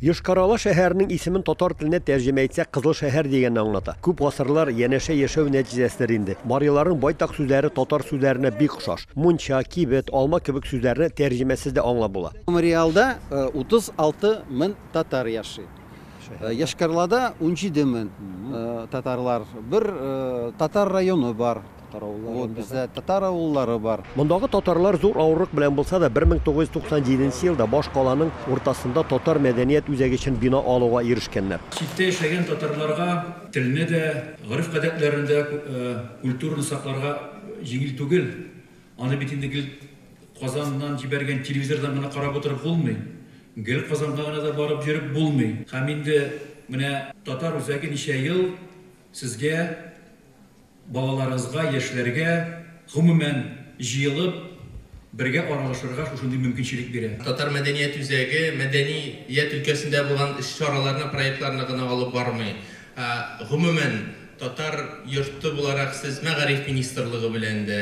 Йошкар-Ола шәһәренең исемен татар теленә тәрҗемә итсәк, Кызыл шәһәр дигәнне аңлата. Күп гасырлар янәшә яшәү нәтиҗәсендер инде. Мариларның байтак сүзләре татар сүзләренә бик охшаш. Мунча, кибет, алма кебек сүзләрне тәрҗемәсез дә аңлап була. Мариалда 36 мн татар яши. Йошкар-Олада унҗиде мн татарлар. Бер татар районы бар. Вот бездә татар авыллары бар. Мондагы татарлар зур авырлык белән булса да 1997 елда баш каланың уртасында татар мәдәният үзәге өчен бина алуга ирешкәннәр. Читтә яшәгән татарларга телне дә, гореф-гадәтләрен дә, культураны сакларга җиңел түгел. Аны бит инде гел Казаннан җибәргән телевизордан гына карап утырып булмый. Гел Казанга гына да барып йөреп булмый. Һәм инде менә татар үзәге ничә ел сезгә Балаларыгызга, яшьләргә, гомумән, җыелып, бергә аралашырга шушындый мөмкинчелек бирә. Татар мәдәният үзәге мәдәни ят өлкәсендә булган чараларны, проектларны гына алып бармый, ә гомумән, татар йорты буларак сез Мәгариф министрлыгы белән дә,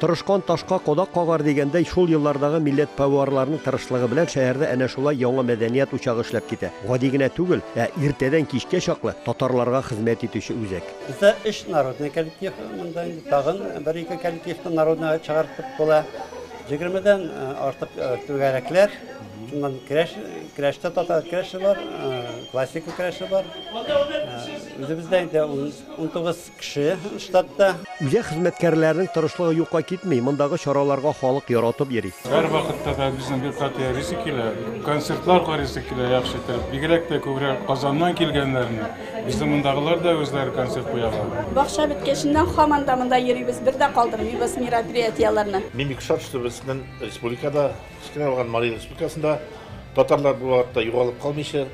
Тырышкан ташка кадак кагар дигәндәй, шул еллардагы милләтпәварларның тырышлыгы белән шәһәрдә әнә шулай яңа мәдәният учагы эшләп китә. Гади генә түгел, ә иртәдән кичкә чаклы татарларга хезмәт итүче үзәк. Бездә өч народный коллектив, монда инде тагын бер-ике коллективны народныйга чыгартып була. Егермедән артык түгәрәкләр, шуннан керәш, керәштә татар керәше бар, классика керәше бар. Үзебездә инде унтугыз Кеше штатта. Үзәк хезмәткәрләренең тырышлыгы юкка китми, мондагы чараларга халык яратып йөри. Һәрвакытта да безнең йортка тиярисе килә, концертлар карыйсы килә яхшы итеп. Бигрәк тә күбрәк Казаннан килгәннәрне. Безнең мондагылар да үзләре концерт куялар. Бакча беткәченнән һаман да монда йөрибез, бер дә калдырмыйбыз мероприятиеләрне. Мин бик шат, что безнең республикада, кечкенә булган Марий республикасында татарлар бу вакытта югалып калмыйча,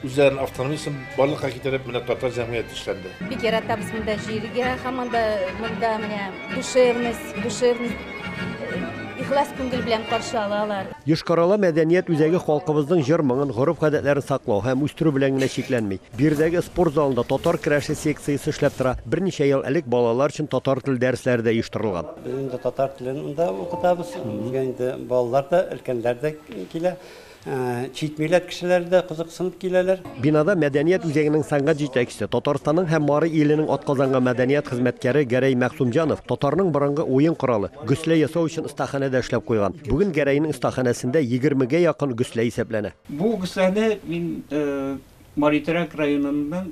Үзләрен автономиясен барлыкка китереп, менә татар җәмгыяте эшләнде. Бик яратабыз монда җиргә, һәм монда монда менә душевность, душевность ихлас күңел белән каршы алалар. Йошкар-Ола мәдәният үзәге халкыбызның җыр-моңын, гореф-гадәтләрен саклау һәм үстерү белән генә чикләнми. Биредәге спорт залында татар керәше секциясе эшләп тора. Берничә ел элек балалар өчен татар теле дәресләре дә оештырылган. Без инде татар телен монда укытабыз. Безгә инде балалар да, өлкәннәр дә килә. Чит милләт кешеләре дә кызыксынып киләләр. Бинада мәдәният үзәгенең сәнгать җитәкчесе, Татарстанның һәм Мари Иленең атказанган мәдәният хезмәткәре Гәрәй Мәгъсумҗанов татарның борынгы уен коралы, гөслә ясау өчен остаханә дә эшләп куйган. Бүген Гәрәйнең остаханәсендә егермегә якын гөслә исәпләнә. Бу гөсләне мин Мари Терәк районының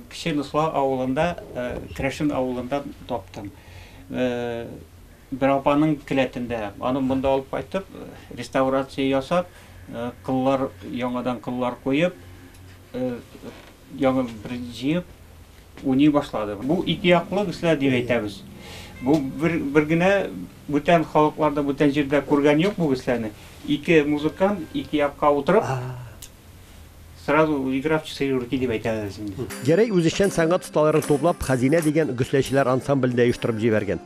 Кече Носла авылында, Крәшен авылында таптым. Бер апаның келәтендә, аны монда алып кайтып, реставрация ясап, кыллар, яңадан кыллар куеп, яңа бер җыеп, уйный башлады. Бу ике яклы кешеләр дип әйтәбез. Бу бер, бер генә бүтән халыкларда, бүтән җирдә күргән юк бу кешеләрне. Ике музыкант ике якка утырып, Сразу игра в четыре руки дип әйтәбез инде. Гәрәй үзешчән сәнгать осталарын туплап, Хәзинә дигән гөсләчеләр ансамблен дә оештырып җибәргән.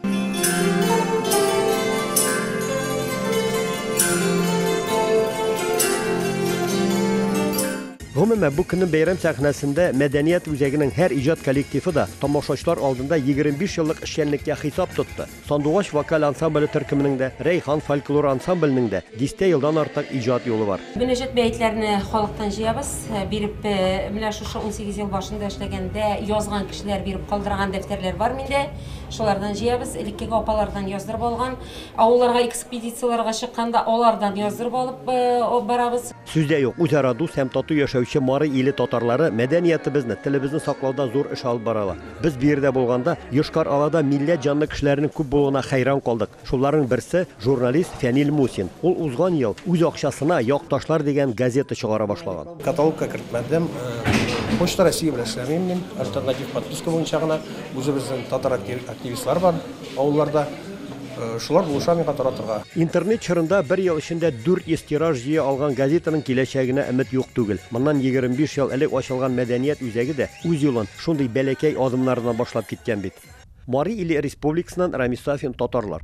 Гомумән, бу көннең бәйрәм сәхнәсендә мәдәният үзәгенең һәр иҗат коллективы да тамашачылар алдында 25 еллык эшчәнлеккә хисап тотты. Сандугач вокаль ансамбле төркеменең дә, Рәйхан фольклор ансамбленең дә дистә елдан артык иҗат юлы бар. Мөнәҗәт бәетләрне халыктан җыябыз. Биреп, менә шушы унсигез ел башында эшләгәндә язган кешеләр биреп калдырган дәфтәрләр бар миндә. Шулардан җыябыз. Элеккеге апалардан яздырып алган. Авылларга экспедицияләргә чыкканда алардан яздырып алып барабыз. Сүз дә юк, үзара дус һәм тату яшәүче Мары иле татарлары мәдәниятебезне, телебезне саклауда зур эш алып баралар. Без бу йирдә булганда Йошкар-Олада милләт җанлы кешеләрнең күп булуына хәйран калдык. Шуларның берсе, журналист Фәнил Мусин. Ул узган ел үз акчасына Як ташлар дигән газета чыгара башлаган. Каталогка кертмәдем. Почта России белән эшләмим мин. Альтернатив подписка буенча гына. Үзебезнең татар активистлар бар авылларда. Шулар булыша миңа таратырга. Интернет чорында бер ел эчендә 400 тираж җыя алган газетаның киләчәгенә өмет юк түгел. Моннан 25 ел элек ачылган мәдәният үзәге дә үз юлын, Шундый бәләкәй адымнардан башлап киткән бит. Мари иле республикасыннан Рамис Сафин татарлар.